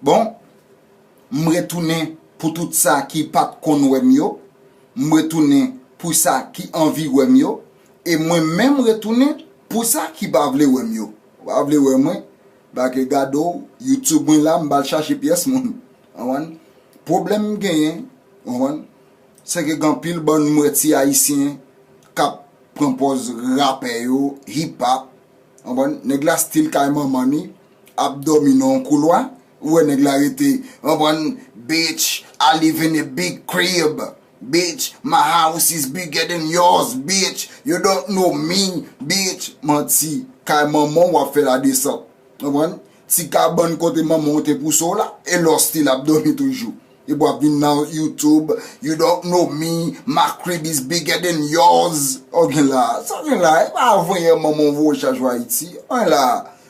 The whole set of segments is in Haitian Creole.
Bon, m retounen pou tout sa ki pa t konn wè m yo, m retounen pou sa ki anvi wè m yo, e mwen menm retounen pou sa ki pa vle wè m yo. Ou pa vle wè mwen, ba ke gade w, YouTube mwen la, m ba al chache pyès moun. Konprann? Pwoblèm m genyen, konprann, se ke gen anpil bann m wè ti Ayisyen k ap pran pòz rapè yo, hip-hop, konprann, nèg la stil kay manman li, ap domi nan yon koulwa ou wè nèg la rete konprann bitch I live in a big crib bitch my house is bigger than yours bitch you don't know me bitch manti kay manman w wap fè la desant konprann ti kabann kote manman w te pouse w la e la w still ap domi toujou epi wap vin nan youtube you don't know me my crib is bigger than yours sa w gen la sa w gen la e pa voye manman w voye chaj w ayiti sa w gen la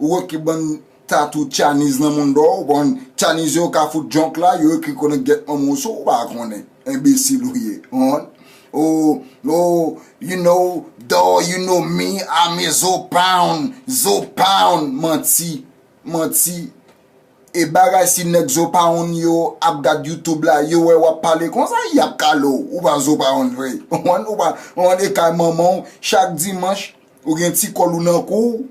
Ou wè ki bann tatou Chinese nan moun dò ou pa konn Chinese yo ka fout junk la yo ekri konnen gèt manman w sou ou pa konnen enbesil ou ye konprann oh oh you know dor you know me I'm a zo pound zo pound manti manti e bagay si nèg zo pound yo ap gad youtube la yo wè wap pale konsa yap kale w ou pa zo pound vre konprann ou pa konprann e kay manman w chak dimanch ou gen ti kòl ou nan kou w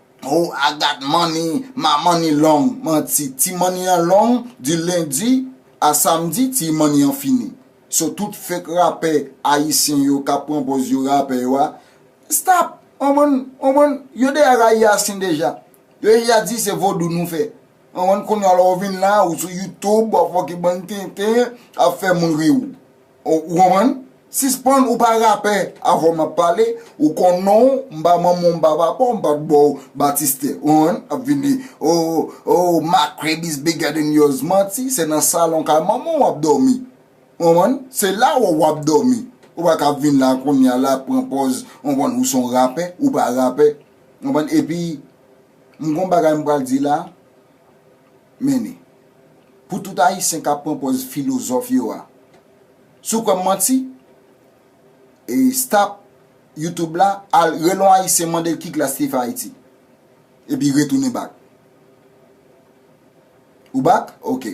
Oh I got money, my money long Manti, ti money an long Di lendi a samdi ti money an fini So tout fake rapè ayisyen yo kap pran pòz yo rapè yo a Stop ou konprann ou konprann Yo deja rayi ayisyen deja Yo deja di se vodou nou fè ou konprann Kounya la ou vin la ou sou YouTube wap fòk e bann tenten ap fè moun ri ou. Ou konprann? Sispann ou pa rapè avan map pale, ou konn non ou, m pa manman w m pa papa w m pat ba w batistè. Ou konprann? Ap vin di oh oh my crib is bigger than yours manti, se nan salon kay manman w wap dòmi. Ou konprann? Se la wè w wap dòmi. Ou pa ka vin la kounya la pran pòz ou konprann ou son rapè, ou pa rapè. Ou konprann? Epi m gon bagay m pral di la. Mennen. Pou tout Ayisyen k ap pran pòz filozòf yo a. Si w kwè m manti, e stop YouTube la, al rele yon Ayisyen mande l ki klas li fè Ayiti. Epi retounen bak. Ou bak? Ok.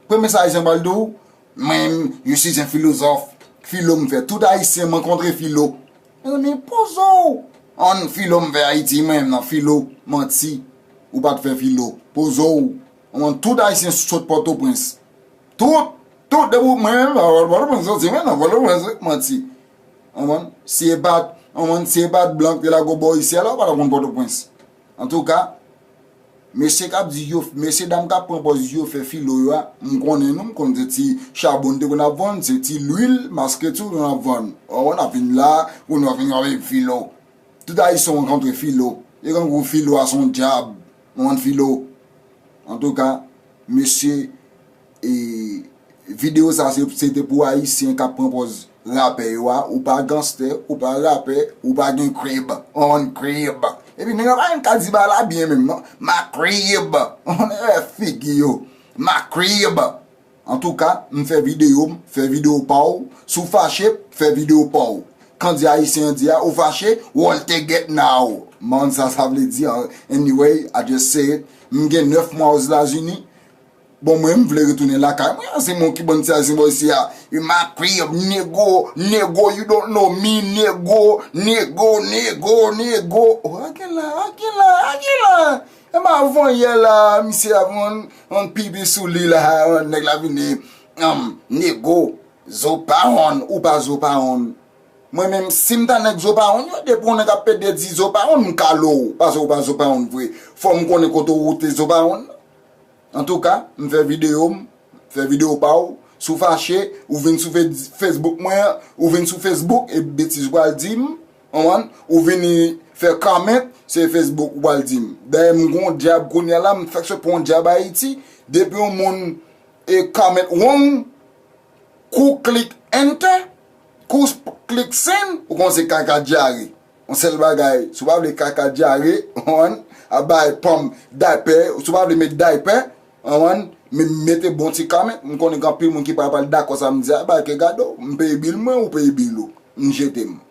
Premye sa Ayisyen pral di w, Mwen, je suis un philosophe. Filo m fè. Tout Ayisyen m ankontre filo. Renmen pozo w. An filo m fè ayiti mwen nan filo manti ou pat fè filo pozo w an tout ayisyen sot pòtoprens tout tout depi w mwen menm nan pòtoprens soti mwen nan pòtoprens wi manti anbann si e pat anbann si e pat blan k te lago bò isyèl la ou pa ta konn pòtoprens Antouka, mesye k ap di yo, mesye dam k ap pran pòz di yo fè filo yo a, m konnen nou, m konnen se ti chabon n te konn ap vann, se ti lwil maske tou nou ap vann. O, n ap vin la, pou nou ap vin wè filo. Tout Ayisyen rankontre filo. E grangou filo a se yon dyab. Nou vann filo. Antouka, mesye. E video sa se te pou ayisyen kap pran pòz rapè yo a, ou pa ganstè, ou pa rapè, ou pa gen krib, ou konn krib. Epi nèg la pa menm ka di ba la byen menm non, ma krib, ou konn e figi yo, ma krib. Antouka, m fè video m, fè video pa w, si w fache, fè video pa w. Kandye ayisyen an di a, ou fache, wòl te gèt naw. M pa konn sa sa vle di, anyway, I just say it, m gen 9 mwa Ozdazini. Bon mwen m vle retounen lakay mwen an se mwen ki bann ti a se boy sia e ma crib nego nego you don't know me nego nego nego nego oh a gen la a gen la a gen la e ma vonyè la misye ap fon yon pipi sou li la nèg la vini humm nego zo pa wonn ou pa zo pa wonn mwen menm si m ta nèg zo pa wonn yo depi yon nèg ap pede di zo pa wonn m kale w pase w pa zo pa wonn vre fò m konnen kote w te zo pa wonn Antouka m fè video m fè video pa w si w fache ou vin sou Facebook mwen ou vin sou Facebook e betiz ou pral di m konprann ou vini fè comment se Facebook ou pral di m dayè m gon dyab kounya la m fèk sot pran yon dyab Ayiti depi yon moun e comment wrong kou klik enter kou klik send ou konnen se kaka dyare On sèl bagay, si w pa vle kaka dyare, ou konprann, ap bay pòm daypè, si w pa vle met daypè, ou konprann, men mete bon ti kame, m konnen gen anpil moun ki pa pral dakò sa m di a, bay ke gade w, m peye bil mwen, ou peye bil ou, m jete m.